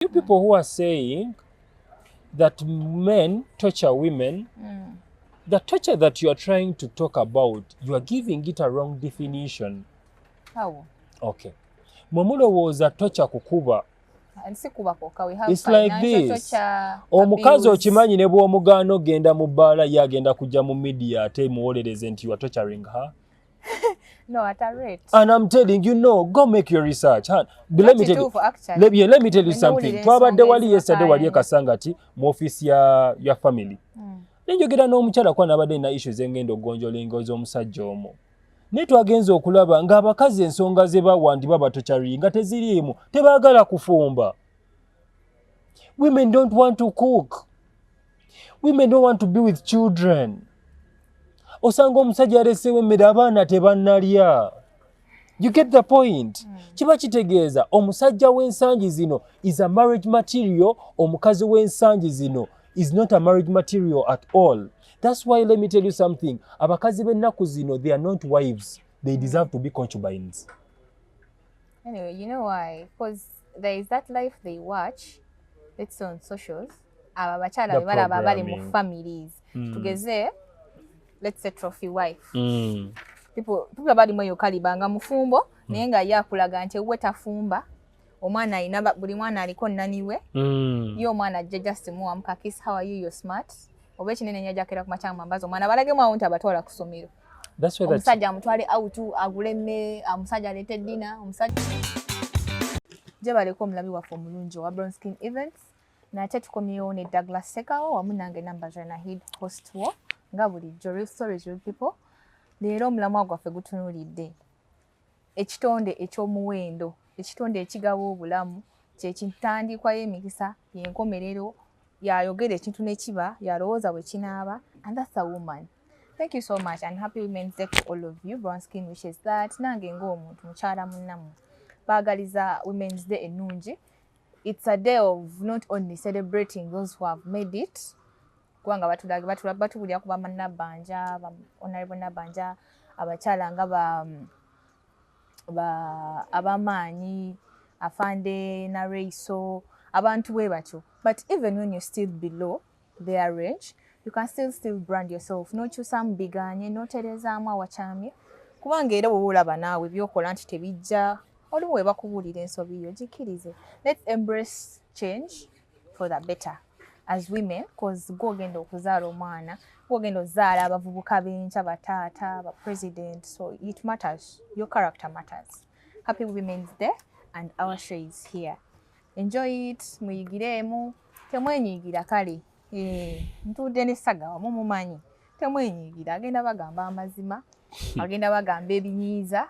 You people who are saying that men torture women, mm. the torture that you are trying to talk about, you are giving it a wrong definition. How? Okay. Mwe mulowooza torture kukuba omukazi okimanyi ne bw'omugaana ogenda mu bbaala ye agenda kujja mu midiya ate muwolereze nti you are torturing her no, at a rate. And I'm telling you, no, go make your research. Huh? But let me tell you, let, yeah, let me tell you something. Twabadde wali yesterday wali ekasangati mu office ya, ya family. Mm. Nenjogera n'omukyala kwa nabadde na issues engendo gonjola engozo omusajja omo. Naye twagenze okulaba ng'abakazi ensonga ze bawandiba batokyari nga teziriimu tebaagala kufumba. Women don't want to cook. women don't want to be with children osanga omusajja aleseewo emmere abaana tebanalya you get the point hmm. kiba kitegeeza omusajja w'ensangi zino is a marriage material omukazi w'ensangi zino is not a marriage material at all that's why let me tell you something abakazi b'ennaku zino they are not wives they deserve to be concubines Anyway, you know why? Because there is that life they watch, it's on socials. Aba abakyala be balaba bali mu families. Mm. Tugeze, let's say trophy wife. Mm. People, people abali mwe yokaliba nga mufumbo, mm. naye nga ye akulaga nti we tafumba. Omwana alina buli mwana aliko naniwe. Mm. Ye omwana ajja just muwamu kakis, how are you, you're smart. oba ekinene nyo ajakera ku makyanga mambazi omwana balagemu awo nti abatwala ku ssomero omusajja amutwale out agule emmere omusajja aleete dina omusajja gyebaleka omulabi waffe omulungi owa brown skin events nate tukomyewo ne douglas sekawo wamu nange namba janahid host wo nga bulijjo real stories real people leero omulamwa gwaffe gutunulidde Ekitonde eky'omuwendo, ekitonde ekigaba obulamu, kye kintandiikwa y'emikisa, y'enkomerero, y'ayogera ekintu ne kiba, y'alowooza bwe kinaaba, and that's a woman. Thank you so much and happy women's day to all of you. Brown skin wishes that nange ng'omuntu mukyala munnamu baagaliza women's day ennungi. It's a day of not only celebrating those who have made it, kubanga batubulira ku banabbanja onalebo nabbanja abakyala nga abamaanyi afande nareiso abantu bwe batyo but even when you're still below their range you can still still brand yourself nokyusamu biganye noterezaamu awakyamye kubanga era woba olaba naawe byokola nti tebijja olumu webakubuulira ensobi yo gikirize let's embrace change for the better as women cause gwogenda okuzaala omwana gwogenda ozaala abavubuka benkya bataata ba president so it matters your character matters happy women's day and our show is here enjoy it muyigireemu temwenyigira kale eh, ntuudde nessaga wamu mumanyi temwenyigira agenda bagamba amazima agenda bagamba ebinyiiza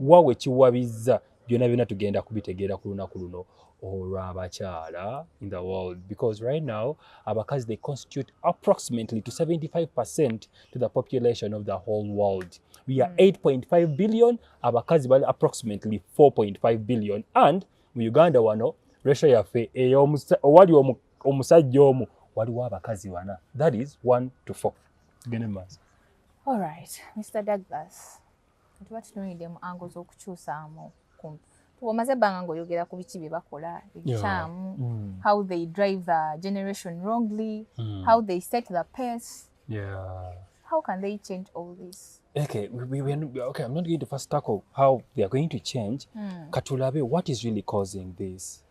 wa we kiwabizza byona byona tugenda kubitegeera ku lunaku luno olw'abakyala in the world because right now abakazi they constitute approximately to 75 percent to the population of the whole world we are 8.5 hmm. billion abakazi bali approximately 4.5 billion and mu uganda wano ratio yaffe owali omusajja omu waliwo abakazi bana that is 1 to 4 tugende mu maaso all right mr douglas tuba tutunulidde mu ango z'okukyusaamu kumpi omaze ebbanga ng'oyogera ku biki bye bakola ebikyamu mm. how they drive the generation wrongly mm. how they set the pace yeah. how can they change all this okay, we, we, we not, okay i'm not going to first tackle how they are going to change mm. katulabe what is really causing this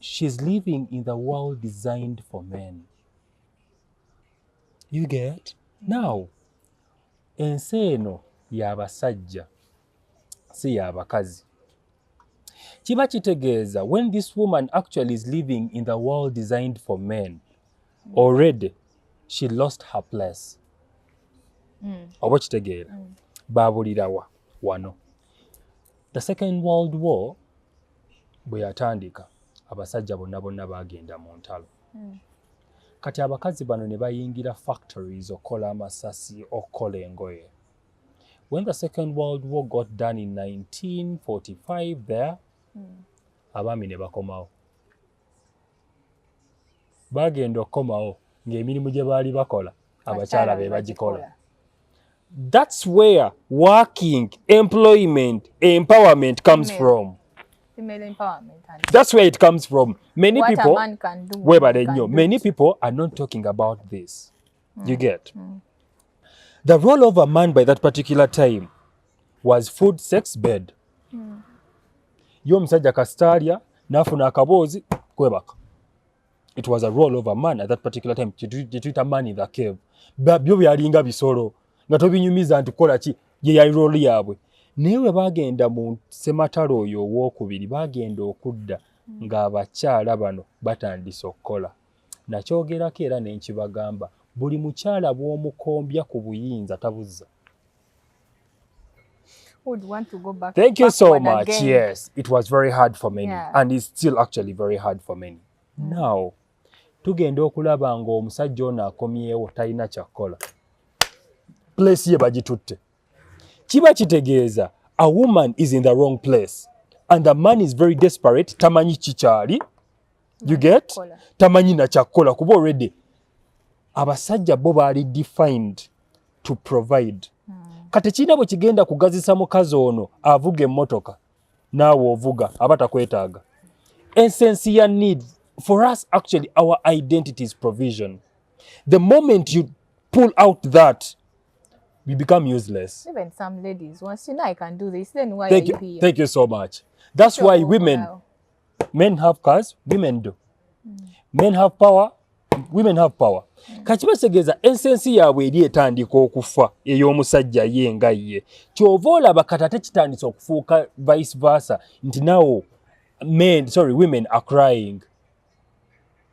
she's living in the world designed for men you get now ensi eno yabasajja si yabakazi kiba kitegeeza when this woman actually is living in the world designed for men already she lost her place mm. oba kitegeera mm. babulirawa wano the second world war bwe yatandika abasajja bonna bonna baagenda mu ntalo hmm. kati abakazi bano ne bayingira factories okukola amasasi okukola engoye when the second world war got done in 1945 there hmm. abaami ne bakomawo baagenda okukomawo ng'emirimu gye baali bakola abakyala be bagikola thats where working employment empowerment comes from thats where it comes from many people webale nnyo many people are not talking about this mm. you get mm. the role of a man by that particular time was food sex bed mm. yo omusajja kasitaalya n'afuna akaboozi kwebaka it was a role of a man at that particular time kyetuyita man in the cave byo byalinga bisolo nga tobinyumiza nti kukola ki ye yali role yaabwe naye bwe bagenda mu sematalo oyo owokubiri bagenda okudda ng'abakyala bano batandise okukola Nakyogerako era ne nkibagamba, buli mukyala bw'omukombya ku buyinza tabuzza. Would want to go back, Thank you so much. Again. Yes, it was very hard for many yeah. and it's still actually very hard for many. Mm. Now, tugenda okulaba ng'omusajja ono akomyewo talina kyakkola. Place ye bagitutte. Kiba kitegeeza a woman is in the wrong place and the man is very desperate tamanyi kikyali you get tamanyi nakyakukola kuba already abasajja bo baali defined to provide hmm. kati kirina bwe kigenda kugazisa mukazi ono avuga emmotoka naawe ovuga aba takwetaaga essence ya need for us actually our identity is provision the moment you pull out that we become useless even some ladies once you know i can do this then why thank are you, you here? thank you so much that's sure, why women well. men have cars women do men have power women have power kati bategeeza ensensi yaabwe eri etandika okufa ey'omusajja ye nga ye kyova olaba kati ate kitandise okufuuka vice versa nti nawo men sorry women are crying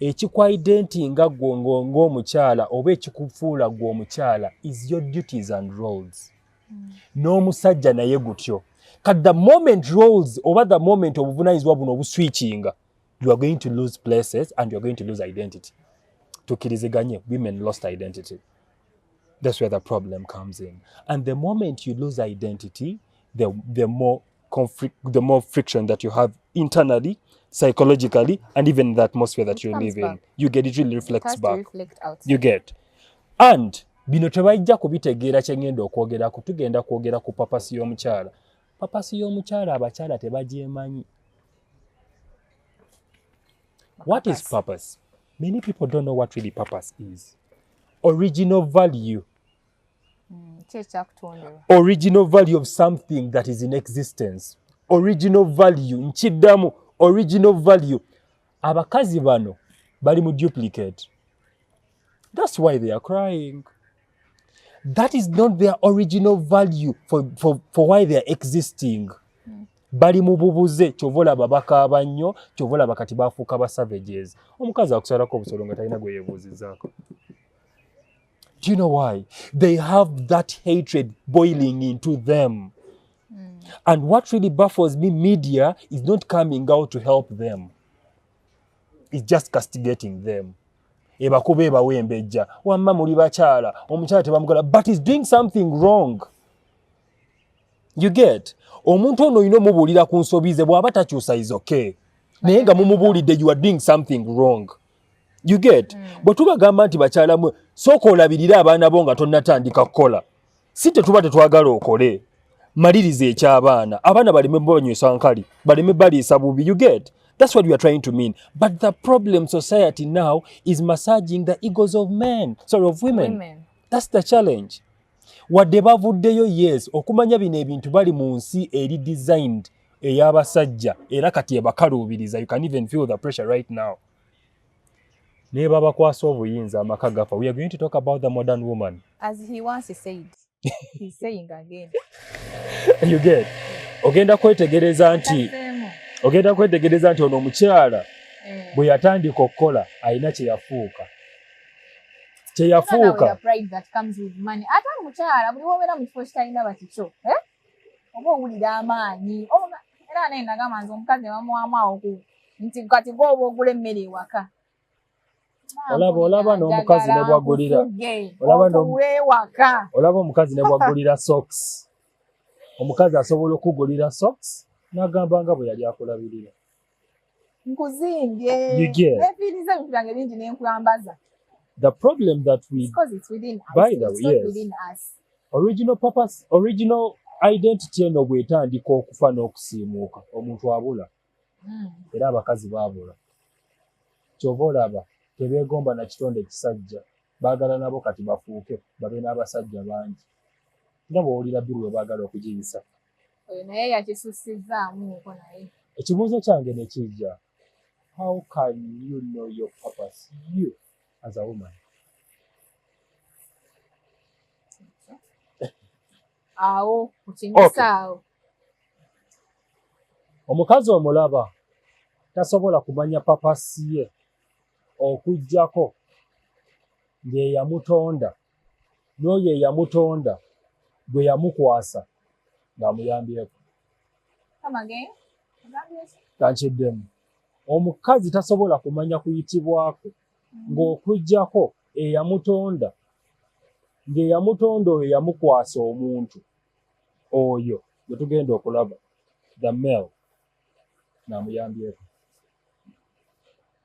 ekikwayidde nti nga gwo ng'omukyala oba ekikufuula gwe omukyala is your duties and roles hmm. n'omusajja naye gutyo kat the moment roles oba the moment obuvunanyizibwa buno obuswikinga you are going to lose places and you are going to lose identity tukiriziganye women lost identity that's where the problem comes in and the moment you lose identity the, the more conflict, the more friction that you have internally, psychologically, and even the atmosphere that you live in. You get it really reflects back. Reflect you get. And bino tebajja kubitegeera kye ngenda okwogerako tugenda kwogera ku papasi y'omukyala papasi y'omukyala abakyala tebagyemanyi what is purpose many people don't know what really purpose is original value mm, original value of something that is in existence original value nkiddamu original value abakazi bano bali mu duplicate that's why they are crying that is not their original value for, for, for why they are existing mm. bali mu bubuze kyova olaba bakaaba nnyo kyova olaba kati bafuuka ba savages omukazi akusalako obusolo nga talina gwe yebuuzizaako Do you know why? They have that hatred boiling into them. Mm. And what really baffles me, media is not coming out to help them. It's just castigating them. ebakuba ebawa embejja wamma muli bakyala omukyala tebamugala but is doing something wrong you get omuntu ono olina omubuulira ku nsobi ze bw'aba takyusa is okay naye nga mumubuulidde you are doing something wrong you get mm. bwe tubagamba nti bakyala mwe sooka olabirire abaana bo nga tonnatandika kukola si tetuba tetwagala okole maliriza eky'abaana abaana baleme banywesa nkali baleme baliisa bubi you get that's what we are trying to mean but the problem society now is massaging the egos of men sorry of women, women. that's the challenge wadde bavuddeyo yes okumanya bino ebintu bali mu nsi eri designed ey'abasajja era kati ebakaluubiriza you can even feel the pressure right now naye babakwasa obuyinza amaka gafa we are going to talk about the modern woman as he once said he's saying again you get ogenda kwetegereza nti ogenda kwetegereza nti ono omukyala eh. bwe yatandika okukola alina kye yafuuka kyeyafuuka ate omukyala buli wobeera mu kifo kitalina bakikyo eh? oba owulira amaanyi era naye nagamba nze omukazi nebamuwamu awo ku nti kati gwe oba ogula emmere ewaka olaba olaba n'omukazi nebwagulira olaba omukazi nebwagulira socks omukazi asobola okugulira socks nagamba nga bwe yali akulabirira nkuzimbye nefiiriza ebintu byange bingi nenkulambaza the problem that we because it's within us by the way yes. within us original purpose original identity eno bwetandika okufa n'okusiimuuka omuntu abula hmm. era abakazi baabula kyova olaba tebeegomba na kitonde ekisajja baagala nabo kati bafuuke babe n'abasajja bangi nga bwowulira biri we baagala okugiyisa oyo naye yakisusizzaamu nko naye ekibuuzo kyange nekijja how can you know your purpose you as a woman awo kukinyisa awo omukazi omulaba tasobola kumanya papasi ye okugyako ngeyamutonda n'oyo eyamutonda gwe yamukwasa ng'amuyambyeko kankiddemu omukazi tasobola kumanya kuyitibwako mm-hmm. ng'okuggyako eyamutonda ng'eyamutonda oyo yamukwasa omuntu oyo gwe tugenda okulaba the male naamuyambyeko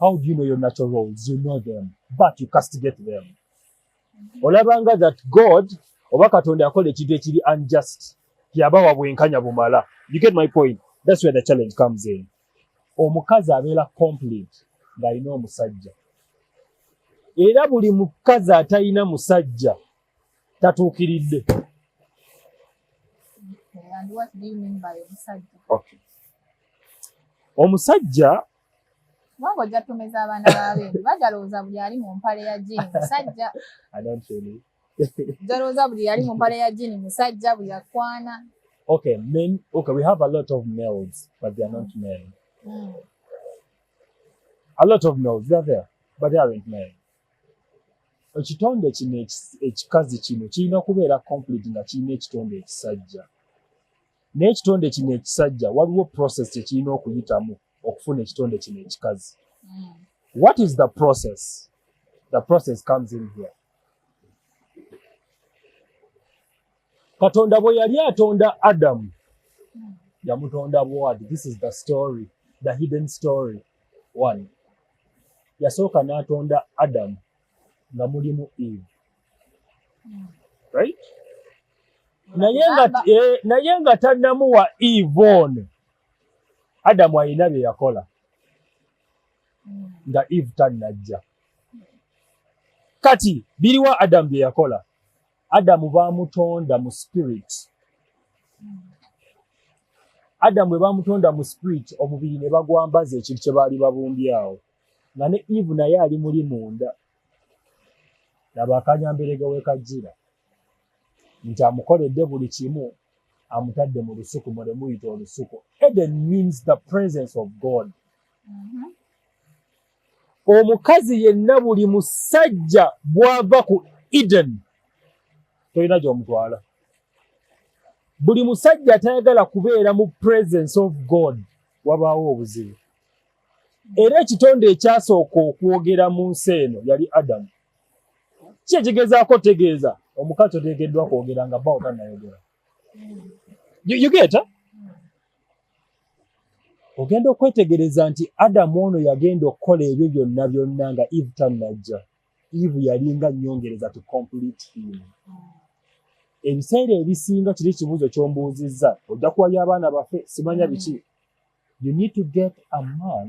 How do you know your natural roles? You know them, but you castigate them. Olabanga that God oba Katonda akola ekintu ekiri unjust, yabawa bwenkanya bumala. You get my point? That's where the challenge comes in. Omukazi abeera complete ng'alina omusajja, era buli mukazi atalina musajja tatuukiridde. Omusajja kubanga ojja tumeza abaana babendu bajalowooza buli ali mu mpale ya jini musajja jalowooza buli ali mu mpale ya jini musajja buli akwana okay men okay we have a lot of males but they are not men mm. a lot of males they are there but they aren't men ekitonde kino ekikazi kino kirina kubeera complete nga kirina ekitonde ekisajja naye ekitonde kino ekisajja waliwo process kyekirina okuyitamu okufuna ekitonde kino ekikazi hmm. what is the process the process comes in here katonda bwe yali atonda adamu hmm. yamutonda bwati this is the story the hidden story one yasooka n'atonda adamu nga mulimu eve right naye nga eh, naye nga tannamuwa eve ono adamu alina bye yakola nga eve tannajja kati biriwa adamu bye yakola adamu bamutonda mu spirit adamu bwe bamutonda mu spirit omubiri ne bagwambaza ekintu kye baali babumbyawo nga ne eve naye ali muli munda laba akanyamberega wekajjira nti amukoledde buli kimu amutadde mu lusuku mwe lemuyita olusuku eden means the presence of god mm -hmm. omukazi yenna buli musajja bwava ku eden tolina gyomutwala buli musajja atayagala kubeera mu presence of god wabaawo obuzibu era ekitonde ekyasooka okwogera mu nsi eno yali adamu ki ekigezaako otegeeza omukazi oteekeddwa kwogera nga bawo tanayogera yugeta ogenda okwetegereza nti adamu ono yagenda okukola ebyo byonna byonna nga eve tannajja eve yalinga nyongereza to complete him ebiseera ebisinga kiri ekibuuzo kyombuuzizza ojja kuwabya abaana baffe simanya biki you need to get a man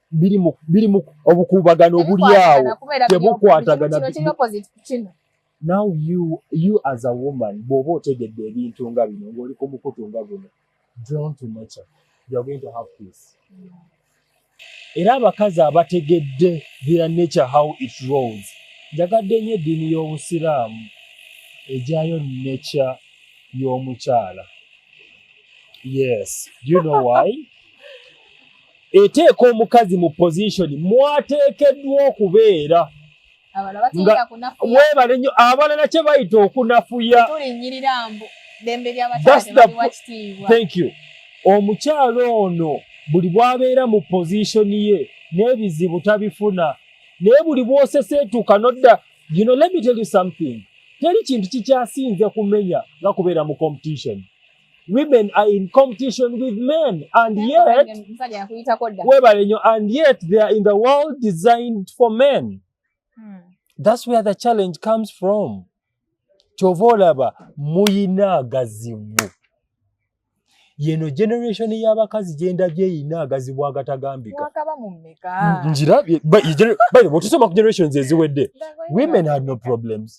birimu obukuubagano obuli awo tebukwatagana now you you as a woman bw'oba otegedde ebintu nga bino ng'oli ku mukutu nga guno drawn to nature you are going to have peace era abakazi abategedde their nature how it rolls njagadde nnyo eddiini y'obusiraamu ejayo nature y'omukyala yes do you know why eteeka omukazi mu position mwateekeddwa okubeera webale nnyo abalala kye bayita okunafuya omukyalo ono buli bwabeera mu position ye n'ebizibu tabifuna naye buli bwoseseetuka nodda you know, let me tell you something teri kintu kikyasinze kumenya nga kubeera mu competition women are in competition with men and yet webale nyo and yet they are in the world designed for men hmm. that's where the challenge comes from kyova olaba muyina agazibu yeno generation y'abakazi gyendabye eyina agazibu agatagambika njirabye bwotosoma ku generations eziwedde women had no problems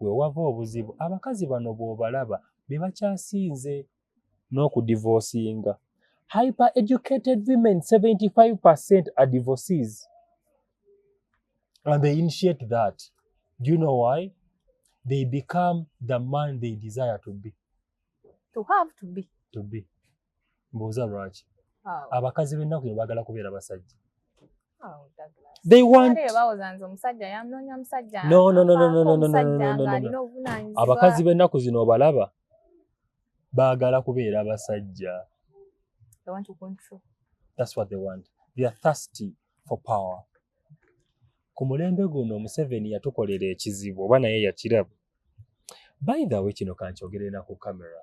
wewava obuzibu abakazi bano bwobalaba bebakyasinze n'okudivosinga hyper educated women 75 percent are divorces and they initiate that do you know why they become the man they desire to be to have to be to be mbuuza lwaki abakazi b'ennaku yo baagala kubeera basajja abakazi b'ennaku zino obalaba baagala kubeera basajja ku mulembe guno museveni yatukolera ekizibu oba naye yakiraba by the way kino kankyogerera ku camera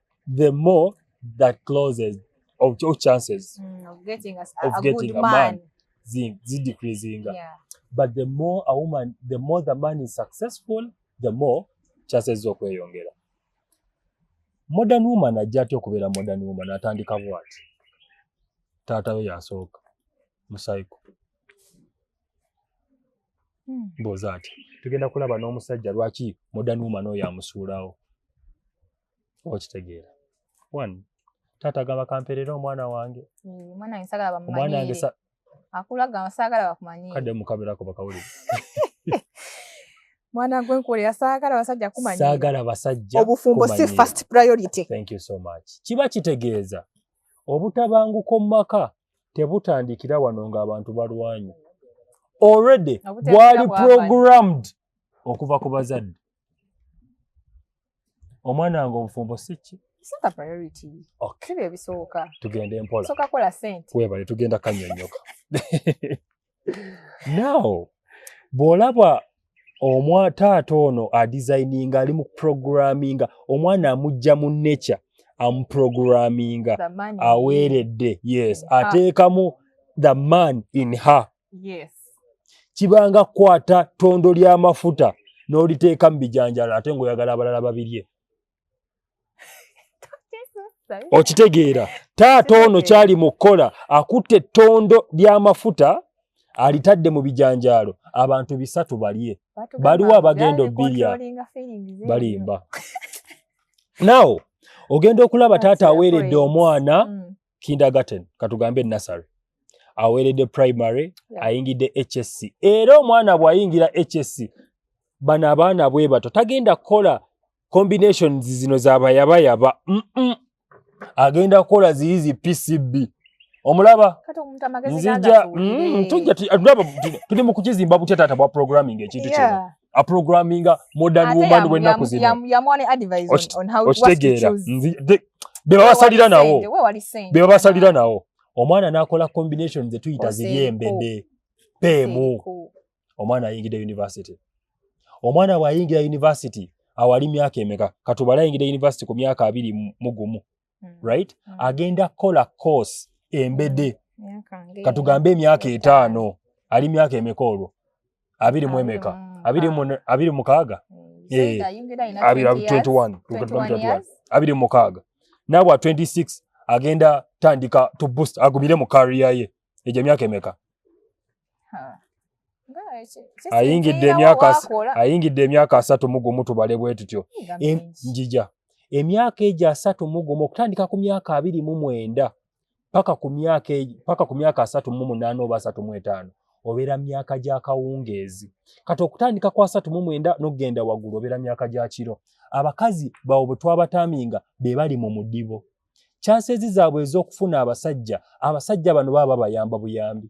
the more the closes of, of chances mm, of getting a, of a getting good a man, man zidecreasing yeah. but the more a woman the more the man is successful the more chances zokweyongera modern woman ajja atya okubeera modern woman atandika bwati taata we yasooka musayiko hmm. mbuuza ati tugenda kulaba n'omusajja lwaki modern woman oyo amusuulawo okitegeera one taata agamba kamperera omwana wange omwana wange sagala bamumanyire akula agamba sagala bakumanyire kadde mukaberako bakawulire mwana gwe nkuwulira saagala basajja kumanyira saagala basajja obufumbo si first priority thank you so much kiba kitegeeza obutabanguko mu maka tebutandikira wano ng'abantu balwanye already bwali programmed okuva ku bazadde omwana wange obufumbo sikki sooka priority okay bye bisooka tugende mpola sooka kola sente webale tugenda kanyonyoka now bw'olaba omwa taata ono adesigninga ali mu programminga omwana amujja mu nature amuprograminga aweeredde yes ah. ateekamu the man in her kibanga kukwata ttondo ly'amafuta n'oliteeka mu bijanjalo ate ng'oyagala abalala babirye okitegeera taata ono kyali mu kukola akutte ettondo ly'amafuta alitadde mu bijanjaalo abantu bisatu balye baliwo abagenda obbirya balimba nawo ogenda okulaba taata aweeredde omwana mm. kindergarten katugambe nasary aweeredde primary ayingidde hsc era omwana bw'ayingira hsc bano abaana bwe bato tagenda kukola combinations zino zabayabayaba agenda kukola ziri zi pcb omulaba nzija mm, tujja tulaba tuli mu kukizimba butya taata bwa programming ekintu kino a programming modern Ate woman we naku zino yam yam one advice on, on how to choose nzi de be basalira nawo be basalira nawo omwana nakola combination ze tuyita ziyembe be pemu omwana ayingira university omwana wa yingira university awali myaka emeka katubala yingira university ku myaka abiri mugumu mm. right mm. agenda kukola course embede mm. katugambe emyaka etaano ali myaka emeka olwo abiri mu emeka abiri mukaaga eh, abiri mukaaga nabwa 26 agenda tandika to boost agumire mu kariya ye egyo emyaka emeka ayingidde emyaka ayingidde emyaka asatu mu gumu tubale bwe tutyo njija emyaka egyo asatu mu gumu okutandika ku myaka abiri mu mwenda paka ku myaka e, paka ku myaka asatu mu munaana oba asatu mu etaano obeera myaka gya kawungeezi kati okutandika ku asatu mu mwenda n'okugenda waggulu obeera myaka gya kiro abakazi bawo bwe twabataminga be bali mu mudibo kyansezi zaabwe ez'okufuna abasajja abasajja bano baba babayamba buyambi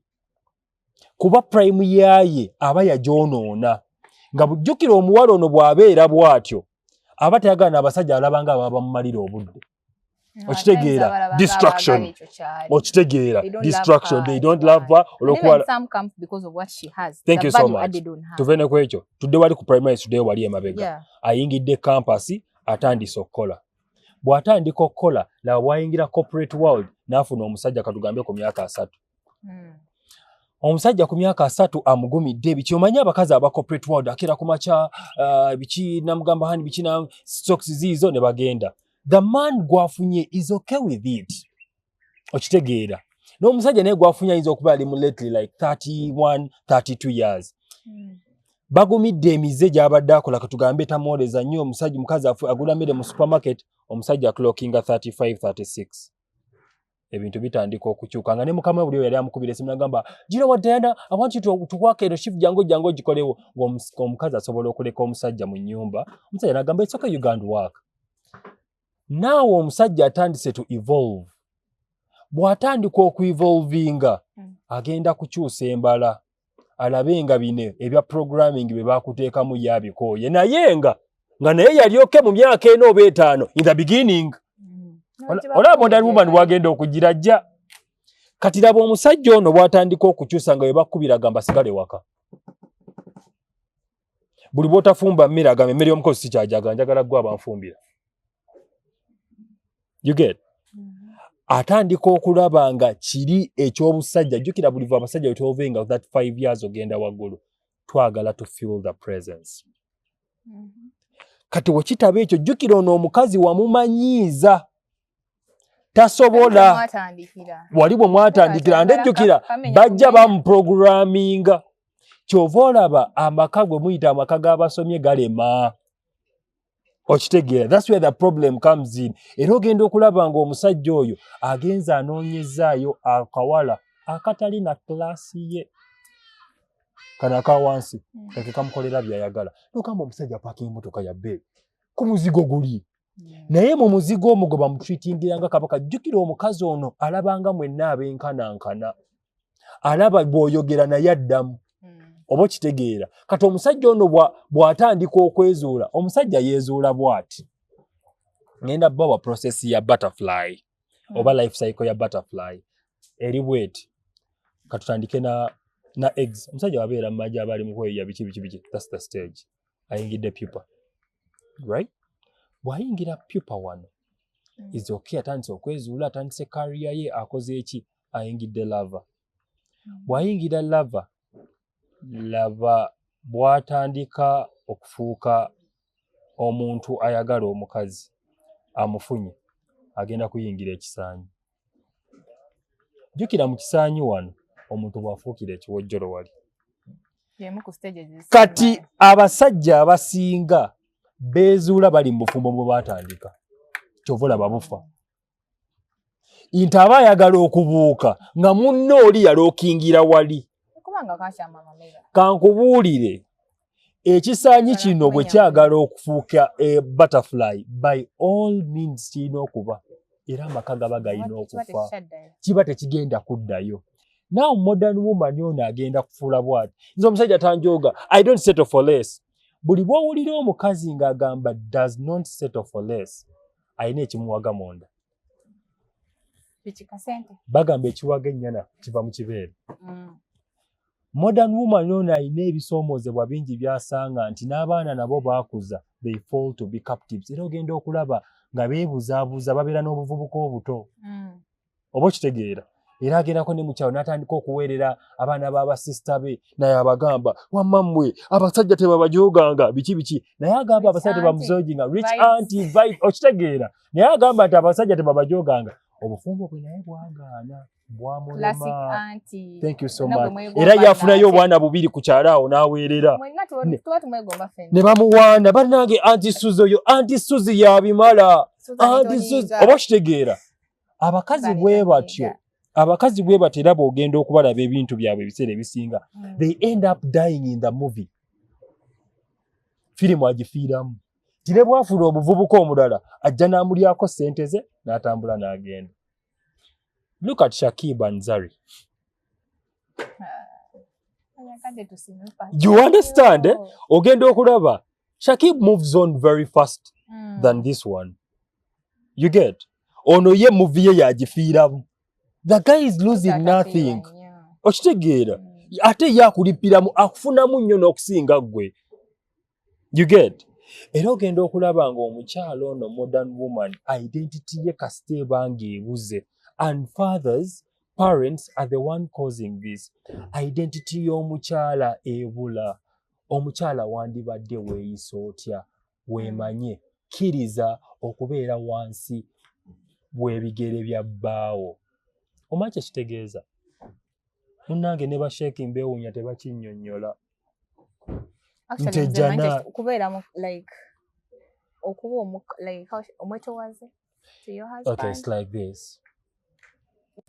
kuba purayimu yaaye aba yagyonoona nga bujjukira omuwala ono bw'abeera bw'atyo aba tayagala n'abasajja alaba nga baba bamumalira obudde okitegeera distraction okitegeera distraction they don't love her olwokuba thank you so much tuve ne ku ekyo tudde wali ku primary tuddeyo wali emabega ayingidde kampasi atandise okukola bw'atandika okukola laba bwayingira corporate world n'afuna omusajja katugambe ku myaka asatu hmm. omusajja ku myaka asatu amugumidde biki omanyi abakazi aba corporate world akera ku makya uh, biki namugamba hani biki na stocks ziizo ne bagenda the man gwafunye is okay with it okitegeera n'omusajja naye gwafunye ayinza okuba ali mu lately like 31 32 years mm. bagumidde emize gyabadde akola katugambe tamwoleza nnyo omusajja mukazi agula mmere mu supermarket omusajja aclockinga 35 36 ebintu bitandika okukyuka nga ne mukama buli yali amukubira esimu nagamba gino wa diana awanti tukwaka ero shifu jangu jangu ogikolewo ngaomukazi asobola okuleka omusajja mu nyumba omusajja nagamba esoka ugand work naawe omusajja atandise to evolve bw'atandika okuevolvinga hmm. agenda kukyusa embala alabe nga bino ebya programming bye baakuteekamu ye abikooye naye nga nga naye yali oke mu myaka ena oba etaano in the beginning hmm. olaba modern woman wagenda okugira jja kati laba omusajja ono bw'atandika okukyusa nga bwe bakkubira gamba sigale waka buli bwotafumba mmere agamba emmere y'omukozi sikyajagala njagala gwe abanfumbira you get mm-hmm. atandika okulaba nga kiri eky'obusajja jjukira buli va abasajja wetwove nga that five years ogenda waggulu twagala to feel the presence mm-hmm. kati wekitaba ekyo jjukira ono omukazi wamumanyiiza tasobola wali bwe mwatandikira ndejjukira bajja bamuprograminga kyova olaba amaka gwe muyita amaka g'abasomye galema okitegeera thats where the problem comes in era ogenda okulaba ng'omusajja oyo agenza anoonyezaayo akawala akatali na kulaasi ye kano aka wansi hmm. eke kamukolera byayagala nogamba omusajja apaka emotoka ya bee ku muzigo guli naye mu muzigo omwo gwe bamutreatingira nga kabaka jjukira omukazi ono alabanga mwenna abenkanankana alaba bw'oyogera naye addamu hmm. oba okitegeera kati omusajja ono bw'atandika okwezuula omusajja yeezuula bw'ati ngenda bawa process ya butterfly hmm. oba life cycle ya butterfly eri bweti katutandike na na eggs omusajja wabeera mu maji abaali mukweyiya biki biki biki that's the stage ayingidde pupa right bwayingira pupa wano mm. is okay atandise okwezuula atandise kariya ye akoze eki ayingidde lava mm. bwayingira lava laba bwatandika okufuuka omuntu ayagala omukazi amufunye agenda kuyingira ekisaanyi jjukira mu kisaanyi wano omuntu bw'afuukira ekiwojjolo wali kati abasajja abasinga beezuula bali mu bufumbo bwe baatandika kyova olaba bufa nti aba ayagala okubuuka nga munna oli yalookingira wali kankubuulire ekisaanyi kino bwe kyagala okufuuka e butterfly by all means kirina okuba era amaka gaba galina okufa kiba tekigenda kuddayo now modern woman ono agenda kufuula bwati nze omusajja tanjooga i don't settle for less buli bwowulira omukazi ng'agamba does not settle for less alina ekimuwaga munda bagamba ekiwaga ennyana kiva mu kibeere mm. Modern woman ono alina ebisoomozebwa bingi byasanga nti n'abaana nabo baakuza they fall to be captives era ogenda okulaba nga beebuzaabuza babeera n'obuvubuka obuto mm. oba okitegeera era agendako ne mukyalo n'atandika okuweerera abaana b'abasisita be naye abagamba wamma mmwe abasajja tebabajoganga biki biki naye agamba abasajja tebamuzoginga rich anti okitegeera naye agamba nti abasajja tebabajoganga obufumbo bwe naye bwagaana era yafunayo obwana bubiri ku kyalo awo n'aweerera ne bamuwaana bannange anti suzi oyo anti suzi yabimala anti suzi oba okitegeera abakazi bwe batyo abakazi bwe batyo era bw'ogenda okubalaba ebintu byabwe ebiseera ebisinga mm. they end up dying in the movie firimu agifiiramu tine bwafuula omuvubuka omulala ajja n'amulyako ssente ze n'atambula n'agenda Look at Shakib and Zari. You understand? Eh? Ogenda okulaba. Shakib moves on very fast mm. than this one. You get? Ono ye movie ye yagifiiramu. The guy is losing nothing. Okitegeera? Mm. Ate ye akulippiramu akufunamu nnyo n'okusinga ggwe. you get era ogenda okulaba nga omukyalo ono modern woman identity ye kasita ebanga ebuze and fathers parents are the one causing this identity y'omukyala ebula omukyala wandibadde weeyisa otya weemanye kkiriza okubeera wansi w'ebigere bya bbaawo omanyi kyekitegeeza munnange ne basheeki mbeewuunya tebakinnyonnyola Actually, nze Ntejana. Manchester- kubeera mu like okuba omu like how sh- omwetowaze to your okay husband it's like this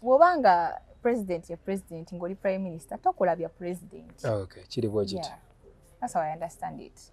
bwoba nga president ye president ngoli prime minister tokola bya president okay kiri bwe kiti Yeah. that's how i understand it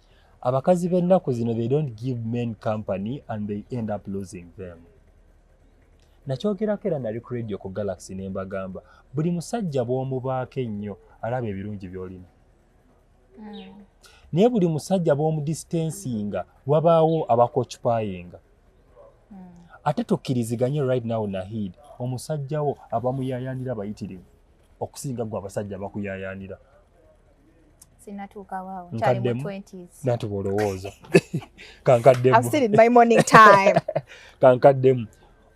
abakazi b'ennaku zino they don't give men company and they end up losing them nakyogerako era nali ku radio ku galaxy ne mbagamba buli musajja bw'omubaako ennyo alaba ebirungi by'olina hmm. naye buli musajja bw'omudistensinga wabaawo abakokipayinga hmm. ate tukkiriziganye right now nahid omusajjawo abamuyayanira bayitirivu okusinga gwe abasajja bakuyayanira natuba olowooza kankaddemu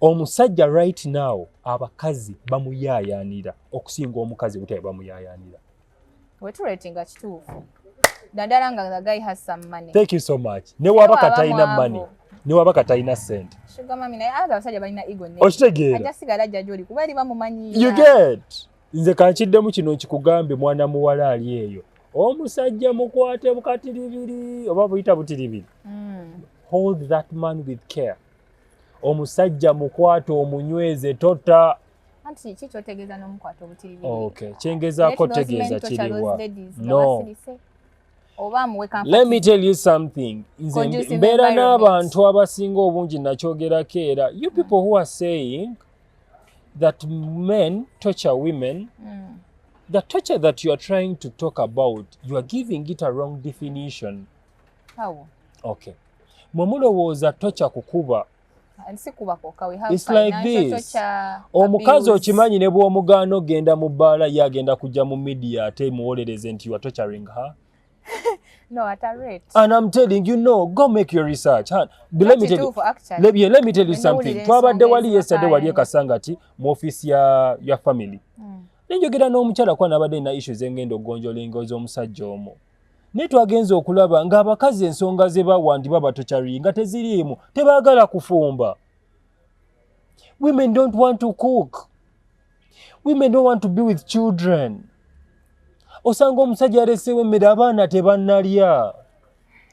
omusajja right now abakazi bamuyayanira okusinga omukazi butabe bamuyayanira wetuletinga kituufu naddala nga the guy has some money thank you so much newaba katalina money newaba katalina sente okitegeera you get nze kankiddemu kino nkikugambe mwana muwala ali eyo omusajja mukwate bukatiribiri oba buyita butiribiri hmm. hold that man with care omusajja mukwate omunyweze tota kyengezaako tegeeza kiriwa no let me tell you something nze mbeera n'abantu abasinga obungi nakyogerako era you people who are saying that men torture women mm. the torture that you are trying to talk about you are giving it a wrong definition How? okay mwe mulowooza tocha kukuba omukazi okimanyi ne bw'omugaana ogenda mu bbaala ye agenda kujja mu midiya ate muwolereze nti you are torturing her no, at a rate. And I'm telling you, no, go make your research. Huh? But let me tell you, let, yeah, let me tell you something. Twabadde wali yesterday wali ekasangati mu office ya, ya family. Mm. Nenjogera n'omukyala kwa nabadde na issues engendo gonjola engozo omusajja omo. Naye twagenze okulaba ng'abakazi ensonga ze bawandiba batokyari nga teziriimu tebaagala kufumba. Women don't want to cook. women don't want to be with children osanga omusajja aleseewo emmere abaana tebanalya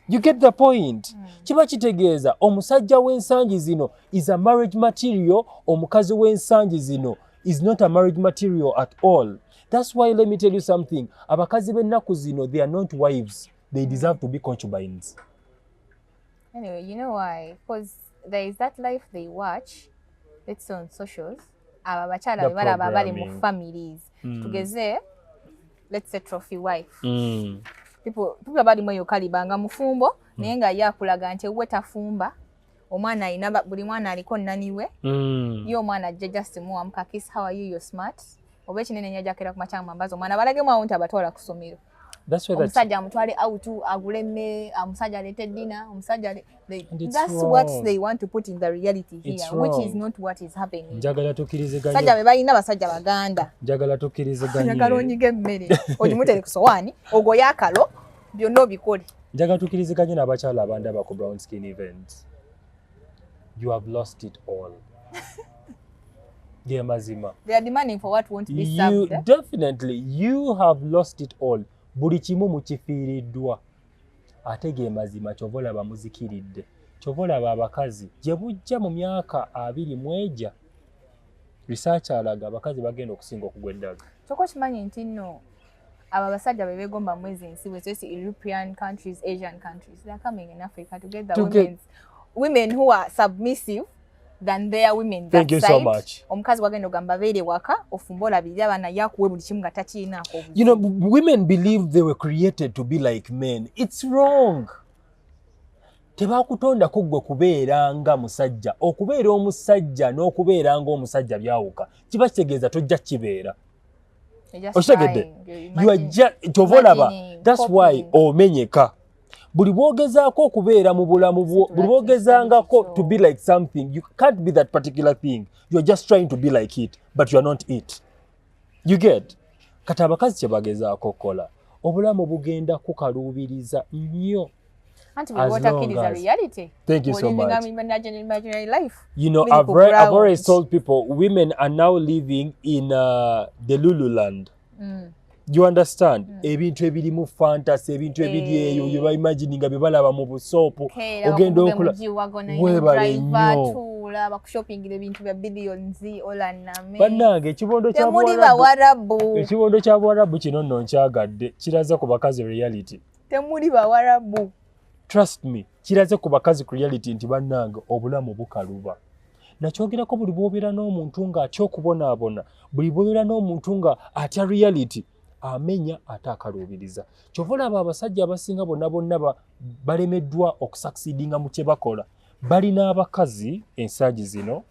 you get the point hmm. kiba kitegeeza omusajja w'ensangi zino is a marriage material omukazi w'ensangi zino is not a marriage material at all that's why let me tell you something abakazi b'ennaku zino they are not wives they deserve to be concubines Anyway, you know why? Because there is that life they watch, it's on socials. Aba abakyala be balaba bali mu families. Mm. Tugeze, let's say trophy wife. Mm. People, people abali mwe yokaliba nga mufumbo, mm. naye nga ye akulaga nti we tafumba. Omwana alina buli mwana aliko nani we. Mm. Ye omwana ajja just muwamu ka kiss how are you you're smart. Oba ekinene nnyo ajakera ku makyanga mambazi omwana balagemu awo nti abatwala ku ssomero. omusajja amutwale out agule emmere omusajja aleete dina omusajja njagala tukiriziganyesajja be balina basajja baganda njagala tukiriziganyagala onyiga emmere ogimutere ku sowaani ogoye akalo byonna obikole njagala tukiriziganye n'abakyala abandaba ku brown skin event you have lost it all ge mazima they are demanding for what won't be served you, eh? definitely you have lost it all buli kimu mukifiiriddwa ate ge mazima kyova olaba muzikiridde kyova olaba abakazi gye bujja mu myaka abiri mweja risaaki alaga abakazi bagenda okusinga okugwa eddaga kyoko kimanyi nti nno abo abasajja be begomba mwezi ensi bwe sesi european countries asian countries they are coming in africa to get the to women's women who are submissive than their women that side so much omukazi wagenda ogamba beere waka ofumba olabirira abaana yakuwe buli kimu nga takiinaako you know women believe they were created to be like men it's wrong tebakutondako ggwe kubeera nga musajja okubeera omusajja n'okubeera nga omusajja byawuka kiba kitegeeza tojja kibeera okitegedde kyova olaba thats why omenyeka buli bwogezaako okubeera mu bulamu bwo buli bwogezangako to be like something you can't be that particular thing youare just trying to be like it but youare not it you get kati abakazi kyebagezaako okukola obulamu bugenda kukaluubiriza nnyo Auntie, as what long is as, a reality. Thank you so much. Imaginary life. You know, I've, read, I've always told people women are now living in uh, the Lulu land. Mm. you understand mm. ebintu ebirimu fantasy ebintu ebiri eh. eyo bye baimagini nga bye balaba mu busoopu ogenda okula webale nnyo bannange ekibondo kya buwarabu kino nno nkyagadde kiraza ku bakazi reality temuli bawarabu trust me kiraze ku bakazi ku reality nti bannange obulamu bukaluba nakyogerako buli bwobeera n'omuntu nga atya okubonaabona buli bwobeera n'omuntu nga atya reality amenya ate akaluubiriza kyova olaba abasajja abasinga bonna bonna balemeddwa okusakisidinga mu kye bakola balina abakazi ensangi zino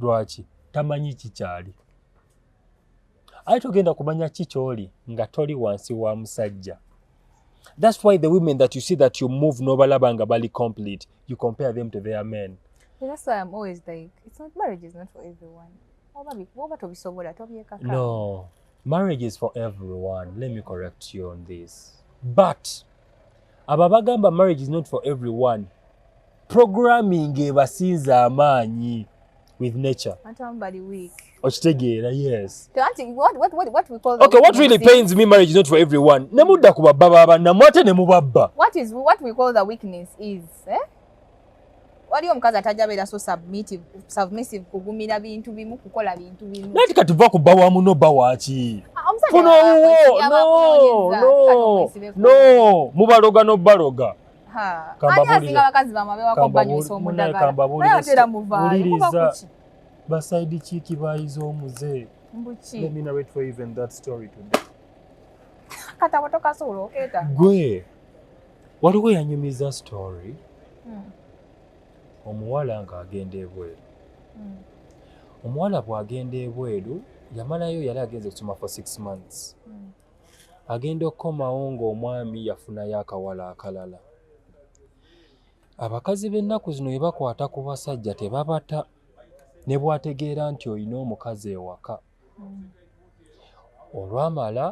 lwaki tamanyi kikyali aye togenda kumanya ki kyoli nga toli wansi wa musajja thats why the women that you see that you move nobalaba nga bali complete you compare them to their men no marriage is for everyone let me correct you on this but abo abagamba marriage is not for every one programming ebasinza amaanyi with nature okitegeera yes okay, what really pains me marriage is not for every one nemudda ku babba babannamu ate nemubabba what is, what we call the weakness is eh? waliyo omukazi atajja beera so submissive kugumira bintu bimu kukola bintu bimu nati kati va ku bba wa muno bba waki ah, funo owuwo no no mubaloga nobaloga kambabuuliriza basaidi kiiki bayiza omuze gwe waliwo yanyumiza story hmm. omuwala ng'agenda ebweru hmm. omuwala bw'agenda ebweru yamalayo yali agenze okusoma for six months hmm. agenda okukomawo ng'omwami yafunayo akawala akalala abakazi b'ennaku zino bwe bakwata ku basajja tebabata ne bw'ategeera nti olina omukazi ewaka olwamala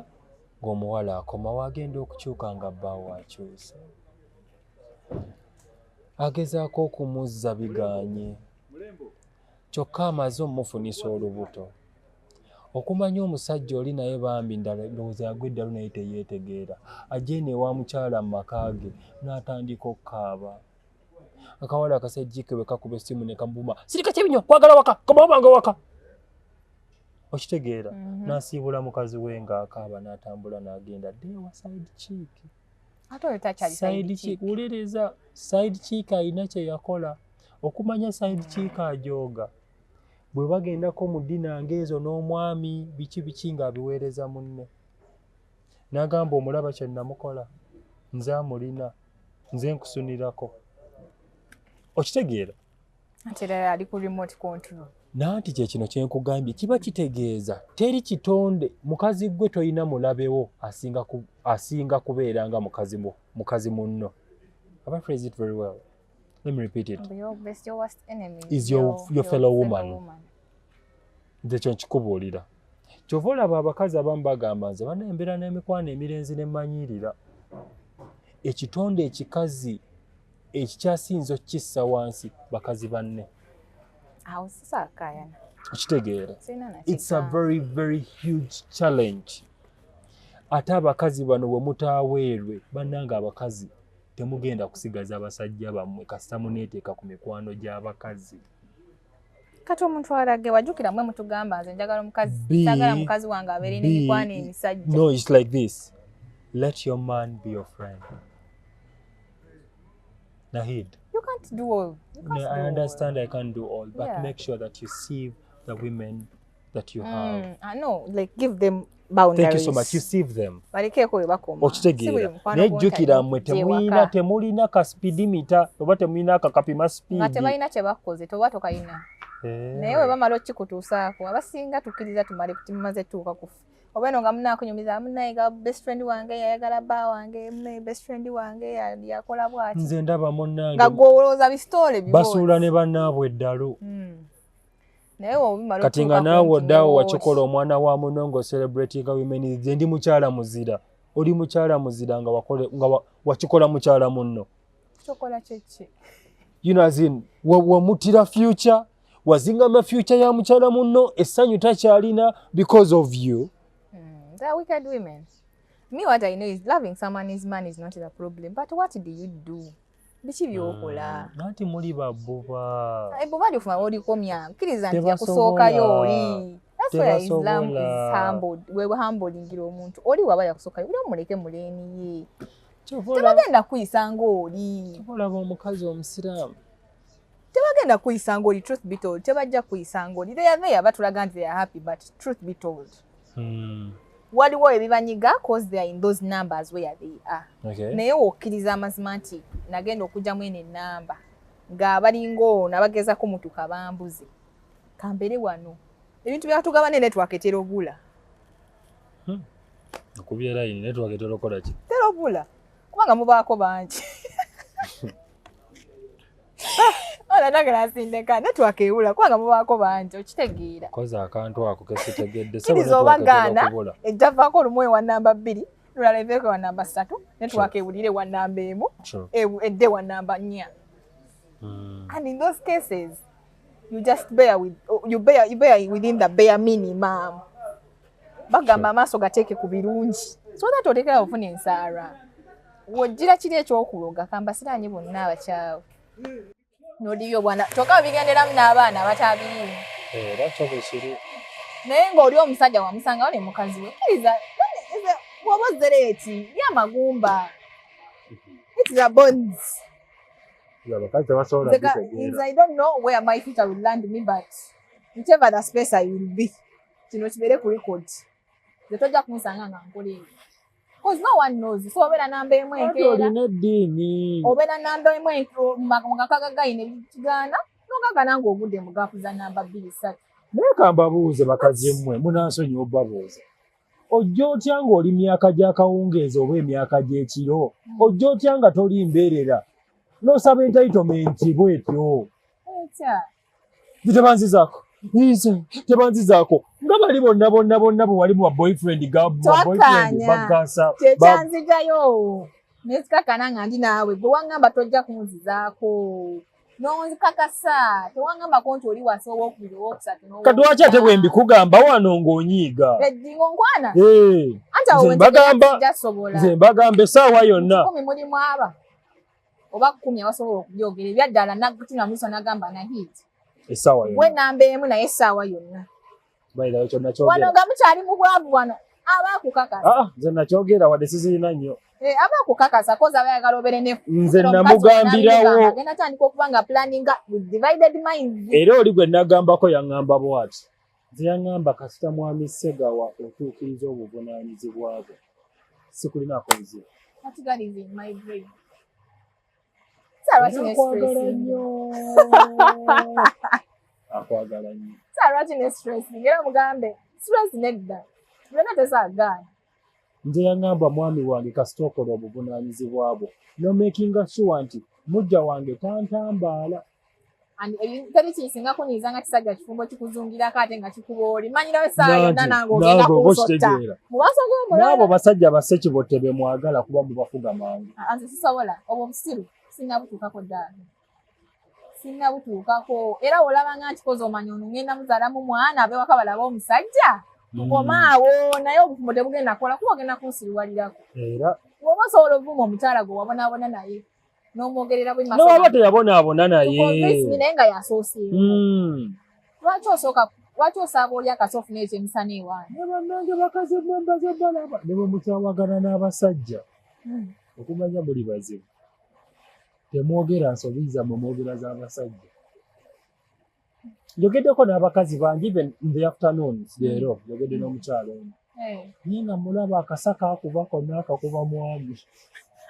ng'omuwala akomawo agenda okukyuka nga bbaawo akyuse agezaako okumuzza biganye kyokka amaze omufunisa olubuto okumanya omusajja oli naye bambi ndalowooza yagwa eddalu naye teyeetegeera ajja eno ewa mukyala mu maka ge n'atandika okukaaba akawala akasajjike bwe kakuba essimu ne kamubuma sirika kibi nnyo kwagala waka kamawabanga waka okitegeera mhm. n'asiibula mukazi we ng'akaaba n'atambula n'agenda dde ewa side chick side chick wuliriza side chick alina kye yakola okumanya side chick ajooga bwe bagendako mu dina ng'ezo n'omwami biki biki ng'abiweereza munne Nagamba omulaba kye namukola nze amulina nze nkusunirako okitegeera nanti kyekino kyenkugambye kiba kitegeeza teri kitonde mukazi gwe tolina mulabewo asinga kubeera nga mukazi munno nze kyo nkikubuulira kyova olaba abakazi abamu bagamba nze bana embeera n'emikwano emirenzi ne mmanyiirira ekitonde ekikazi ekikyasinza okukissa wansi bakazi banne awo sisakayana okitegeera its a very very huge challenge ate abakazi bano bwe mutaaweerwe bannanga abakazi temugenda kusigaza basajja bammwe kasita muneeteeka ku mikwano gy'abakazi kati omuntu alage wajukira mwe mutugamba nze njagala omukazi njagala mukazi wange abeere n'emikwano emisajja no it's like this let your man be your friend nahid you can't do all you can't no, do i understand all. i can't do all but yeah. make sure that you see the women that you have mm, I know like give them boundaries thank you so much you save them balikeeko we bakoma okitegeera naye jjukira mmwe temulina temulina ka speed meter oba temulina akakapima speed nga tebalina kye bakoze toba tokalina eh. naye we bamala okikutuusaako abasinga tukkiriza tumale kuti mumaze tuuka kufa oba eno nga munakunyumiza munaye ga best friend wange yayagala ba wange munaye best friend wange yakola bwati nze ndaba munange nga gwowolooza bisitoole basuula ne banaabwe eddalu mm. kati nga naawe oddawo wakikola omwana wa muno nga ocelebratinga women ze ndi mukyala muzira oli mukyala muzira nga wakikola mukyala munno wamutira future wazingama future ya mukyala munno essanyu takyalina because of you mm, the wicked women me what i know is loving someone is man is not the problem but what do you do biki byokola hmm, nanti muli babuba ebuba ndi ofuma olikomya kkiriza nti yakusookayo oli wehambolingira omuntu oli waba yakusookayo uli omuleke muleni ye tebagenda kuyisa ngaoli olaba omukazi omusiraamu tebagenda kuyisa ngoli truth be told tebajja kuyisa ngoli they are there batulaga nti they are happy but truth be told hmm. waliwo ebibanyiga cause they are in those numbers where they are okay. naye wokkiriza amazima nti nagenda okugyamu eno enamba nga balinga ono abagezako mutu kabambuze kambere wano ebintu byatugaba ne network etera obula hmm. okubyera yini network etera okola ki tera obula kubanga mubaako bangi olanagala asindeka netwakewula kubanga mubaako bangi okitegeera koza akantu ako kesitegedde kiriza oba gaana ejjavaako olumu ewa namba bbiri lulala eveeko ewa namba ssatu netwakewulira ewa namba emu edde ewa namba nnya hmm. and in those cases you just bear with you bear you bear within the bare minimum bagamba amaaso gateeke ku birungi so that otekera ofuna ensaara wojjira kiri ekyokuloga kambasiraanye bonna abakyawe nodibya obwana kyokka bigenderamu n'abaana abatabirimu era kyo bwekiri naye ng'oli omusajja wamusangawo ne mukazi we kiriza woba ozzere eti ye amagumba its the bones abakazi tebasobola nteva the space i will be kino kibeere ku record nze tojja kunsanga nga nkola ebyo Cause no one knows. So obera namba emu enkeera. Olina eddiini. Obera namba emu mu kakaga gayina ebikigaana nogagana ng'ogudde mu gaapu za namba bbiri ssatu. Naye kambabuuze bakazi mmwe munansonyiwa obabuuza. ojja otya ng'oli myaka gy'akawungeezi oba emyaka gy'ekiro ojja otya nga toli mbeerera n'osaba entaitomenti bwetyo zitebanzizaako tebanzizaako nga bali bonna bonna bonna bwe wali mu baboyfriend bagasa kyekyanzijayo nesikakana nga ndi naawe gwe wangamba tojja kunzizaako nonzikakasa tewangambako nti oli wasa owokubiri owokusatu kati waki ate bwe mbikugamba wano ng'onyiiga eddingo eh, nkwana nze mbagamba essaawa yonna kumi mulimu aba oba kumi abasobola okubyogera ebyaddala nagutunamisa nagamba na hit essaawa yonna we namba emu naye essaawa yonna wano nga mukyali mu bwavu wano aba akukakasa ah, nze nakyogera wadde sizirina nnyo eh, aba akukakasa koza aba ayagala obeere ne nze namugambirawo agenda tandika okuba nga planninga with divided minds era oli gwe nagambako yaŋŋamba bwati nze yaŋŋamba kasita mwami segawa otuukiriza obuvunaanyizibwa bwe sikulinaako nzira Nakwagala nnyo. Nakwagala nnyo. Sir, lwaki ne stress? Ngera mugambe, stress nedda. Byonna tezaagaana. Nze yangamba mwami wange kasita okola obuvunaanyizibwa bwo. No making sure nti mujja wange tantambaala. teri kinsinga kunyiiza nga kisajja kifumbo kikuzungirako ate nga kikuba oli manyira esaawa yonna nange ogenda kunsotta mubasogomunaabo basajja basekibotte be mwagala kuba mubafuga mangu ah, nze sisobola obwo obusiru sinabutuukako ddala sinabutuukako era olaba nga nkikoze omanya ono ngenda muzaalamu mwana abewaka balaba omusajja hmm. omaawo naye obufumbo tebugenda kola kuba ogenda kunsiriwalirako era woba osobola obuvuma omukyala gwe wabonabona naye n'omwogerera bwe maso n'oba teyabonaabona naye naye nga yasooseewo hmm. lwaki osooka lwaki osaaba oli akasi ofuna ekyo emisana ewaani ne bannange bakazi mwembaze balaba ne bwe mukyawagana n'abasajja hmm. okumanya muli bazibu temwogera nsobi zammwe mwogera z'abasajja njogeddeko n'abakazi bangi even in the afternoons hmm. leero njogedde n'omukyalo ono eh. naye nga mulaba akasa kakuba konna akakuba mwami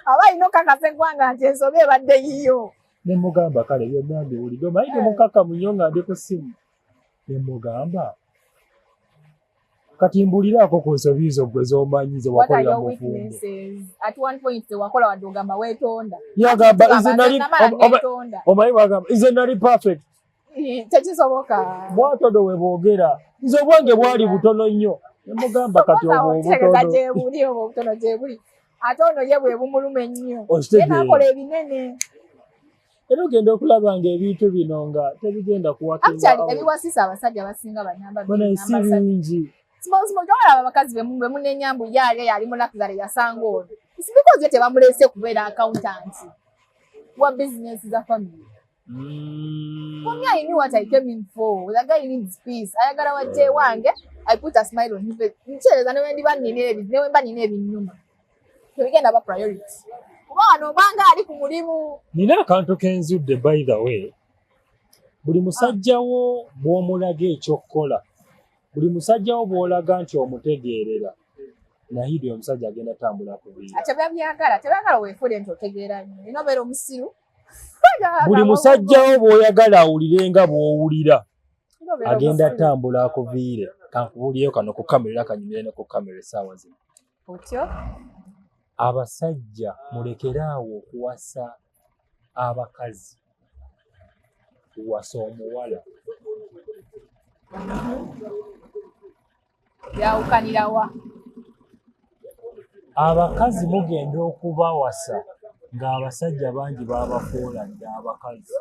aba alina okakasa eggwanga nti ensobi ebadde yiyo ne mugamba kale byonna mbiwulidde omanyi temukakamu eh. nnyo nga ndi ku ssimu ne mugamba kati mbuliraako ku nsobi zo gwe zomanyi zewakolera mufumboyagambaomanyi bagamba ize nali perfect tekisoboka bwatodo we boogera nze obwange bwali butono nnyo nemugamba kati obwo obutono ate ono ye bwe bumuluma ennyo nakola ebinene era ogenda okulaba nga ebintu bino nga tebigenda kuwaebiwasisa abasajja basinga banambasibingi abakazi bemunenya mbu yaali yali mulakizale yasanga ono sibikozi yo tebamulese kubeera accountant wa business za family mm. for me i knew what i came in for the guy needs peace ayagala wajje wange i put a smile on his face nkyereza newendibannina ebi newemba nina ebinyuma tebigenda ba priority kuba wano obanga ali ku mulimu nina akantu kenzudde by the way buli musajjawo bw'omulaga ekyokkola buli musajjawo bw'olaga nti omutegeerera nahidi omusajja agenda tambula kubiatebabyagala tebyagala wefule nti otegeera nyo nina obeera omusiru buli musajjawo bw'oyagala awulire nga bw'owulira agenda tambula akuviire kankubuliyo kano ku kamera era kanyumire ne ku kamera essaawa zino otyo abasajja mulekere awo okuwasa abakazi wasa omuwala yawukanirawa abakazi mugenda okubawasa ng'abasajja bangi babafuula dda abakazi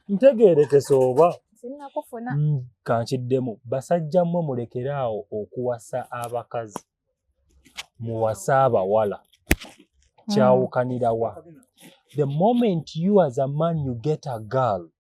ntegeerekese oba mm, kankiddemu basajja mmwe mulekere awo okuwasa abakazi muwase abawala kyawukanira wa the moment you as a man you get a girl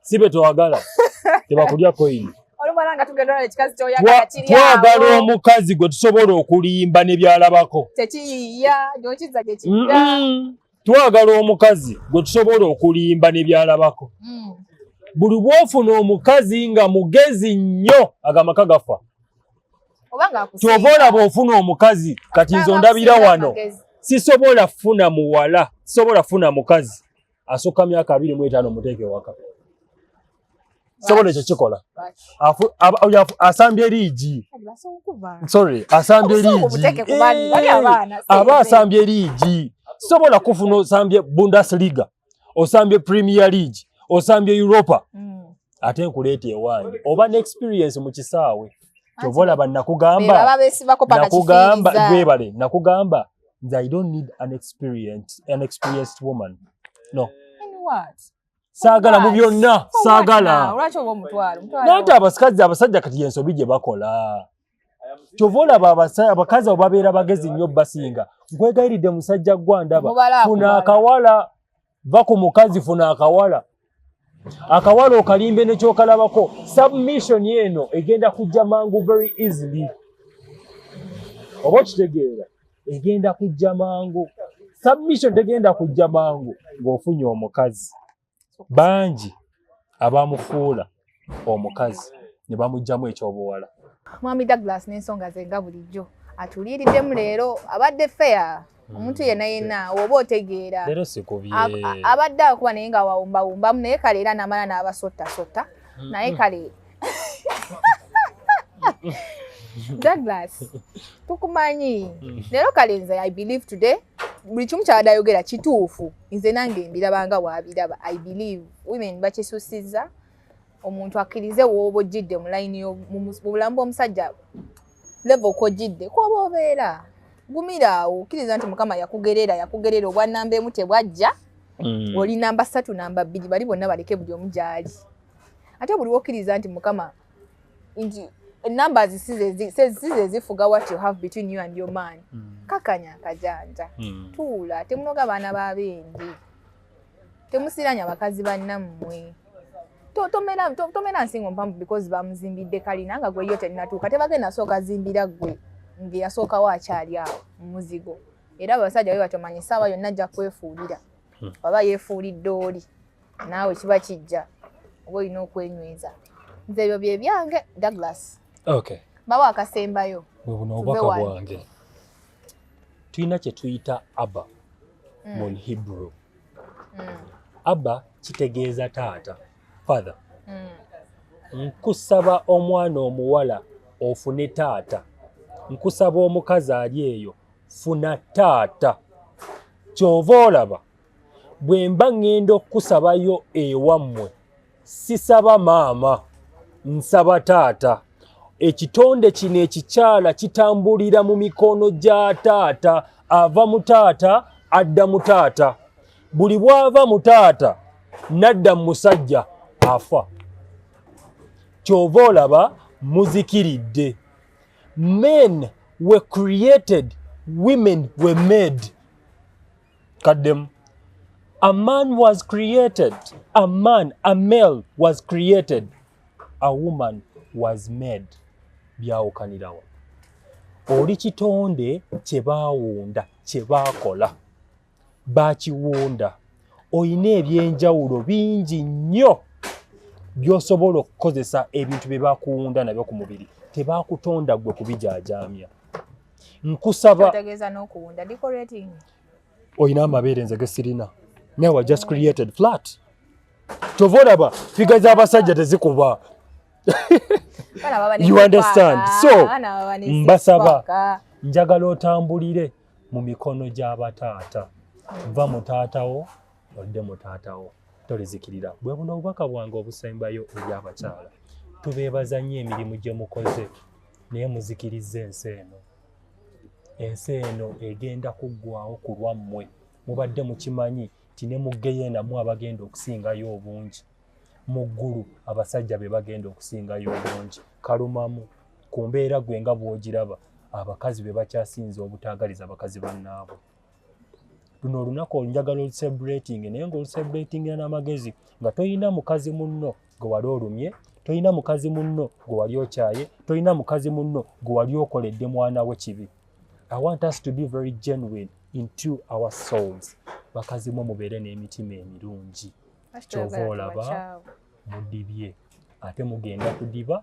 sibe tewagala tebakulya koyini twagala omukazi gwe tusobola okulimba nebyalabako twagala omukazi gwe tusobola okulimba nebyalabako mm. buli bwofuna omukazi nga mugezi nnyo agamaka gafa kyova olaba ofuna omukazi kati nze ondabira wano sisobola funa muwala sisobola funa mukazi asukka myaka abiri mu etaano muteeke waka sobola ekyo kikola asambye liigi sorry asambye liigi eh, aba asambye liigi sobola kufuna osambye bundesliga osambye premier league osambye europa mm. ate nkuleeta ewange oba ne experience mu kisaawe kyobola banakugamba nakugamba gwebale nakugamba nze i don't need an experienced, an experienced woman no saagala mu byonna saagala nante abasikazi abasajja kati yensobi gye bakola kyova olaba abakazi abo babeera bagezi nnyo basinga nkwegayiridde musajja gwandaba funa akawala va ku mukazi funa akawala akawala okalimbe nekyokalabako submission eno egenda kujja mangu very easily oba okitegeera egenda kujja mangu submission tegenda kujja mangu ng'ofunye omukazi bangi abamufuula omukazi ne bamugyamu ekyobuwala mwami douglas n'ensonga ze nga bulijjo atuliiriddemu leero abadde feya hmm. omuntu yena yena oba otegeera abadde akuba naye nga wawumbawumbamu naye kale era namala n'abasottasotta hmm. naye kale douglas tukumanyi hmm. leero kale nze i believe today buli kimu kyabadde ayogera kituufu nze nange mbirabanga waabiraba i believe women bakisusiza omuntu akkirize wooba ojjidde mu layini mubulamu bwomusajja leva okojjidde kwoba obeera gumiraawo kkiriza nti mukama yakugerera yakugerera obwa namba emu tebwajja mm. oli namba ssatu namba bbiri bali bonna baleke buli omu gyali ate buli wokkiriza nti mukama nti numbers size zifuga what you have between you and your man mm. kakanya akajanja mm. tuula temunoga baana babendi temusiranya bakazi bannammwe tomera to, to, to nsingo mpamvu because bamuzimbidde kalina nga gweyo tenatuuka tebagenda asooka zimbira gwe ngeyasookawo akyali awo mumuzigo era abasajja be batomanya esaawa yonna ajja kwefuulira hmm. waba yefuulidde oli naawe kiba kijja oba olina okwenyweza nze ebyo bye byange douglas okay. bawa akasembayo bwebuno obubaka bwange tulina kye tuyita abba mm. mu hebrew mm. abba kitegeeza taata father mm. nkusaba omwana omuwala ofune taata nkusaba omukazi ali eyo funa taata kyova olaba bwe mba ŋŋenda okukusabayo ewammwe sisaba maama nsaba taata ekitonde kino ekikyala kitambulira mu mikono gya taata ava mu taata adda mu taata buli bwava mu taata nadda mu musajja afa kyova olaba muzikiridde men were created women were made kaddemu a man was created a man a male was created a woman was made byawukanirawo oli kitonde kye baawunda kye baakola baakiwunda olina ebyenjawulo bingi nnyo by'osobola okukozesa ebintu bye bakuwunda nabyo ku mubiri tebaakutonda ggwe kubijaajaamya nkusaba olina amabeere nze gesirina now I just created flat kyova olaba figa z'abasajja tezikuba you understand so mbasaba njagala otambulire mu mikono gy'abataata va mu taatawo odde mu taata wo tolizikirira bwe buno obubaka bwange obusembayo eri abakyala tubeebaza nnyo emirimu gye mukoze naye muzikiriza ensi eno ensi eno egenda kuggwawo ku lwammwe mubadde mukimanyi nti ne mu geyenamu abagenda okusingayo obungi mu ggulu abasajja be bagenda okusingayo obungi kalumamu ku mbeera gwe nga bw'ogiraba abakazi be bakyasinze obutaagaliza bakazi bannaabwe luno olunaku olunjagala olusebrating naye nga olusebratingira n'amagezi nga tolina mukazi munno gwe wali olumye tolina mukazi munno gwe wali okyaye tolina mukazi munno gwe wali okoledde mwana we kibi i want us to be very genuine into our souls bakazi mwe mubeere n'emitima emirungi kyova olaba mudibye ate mugenda kudiba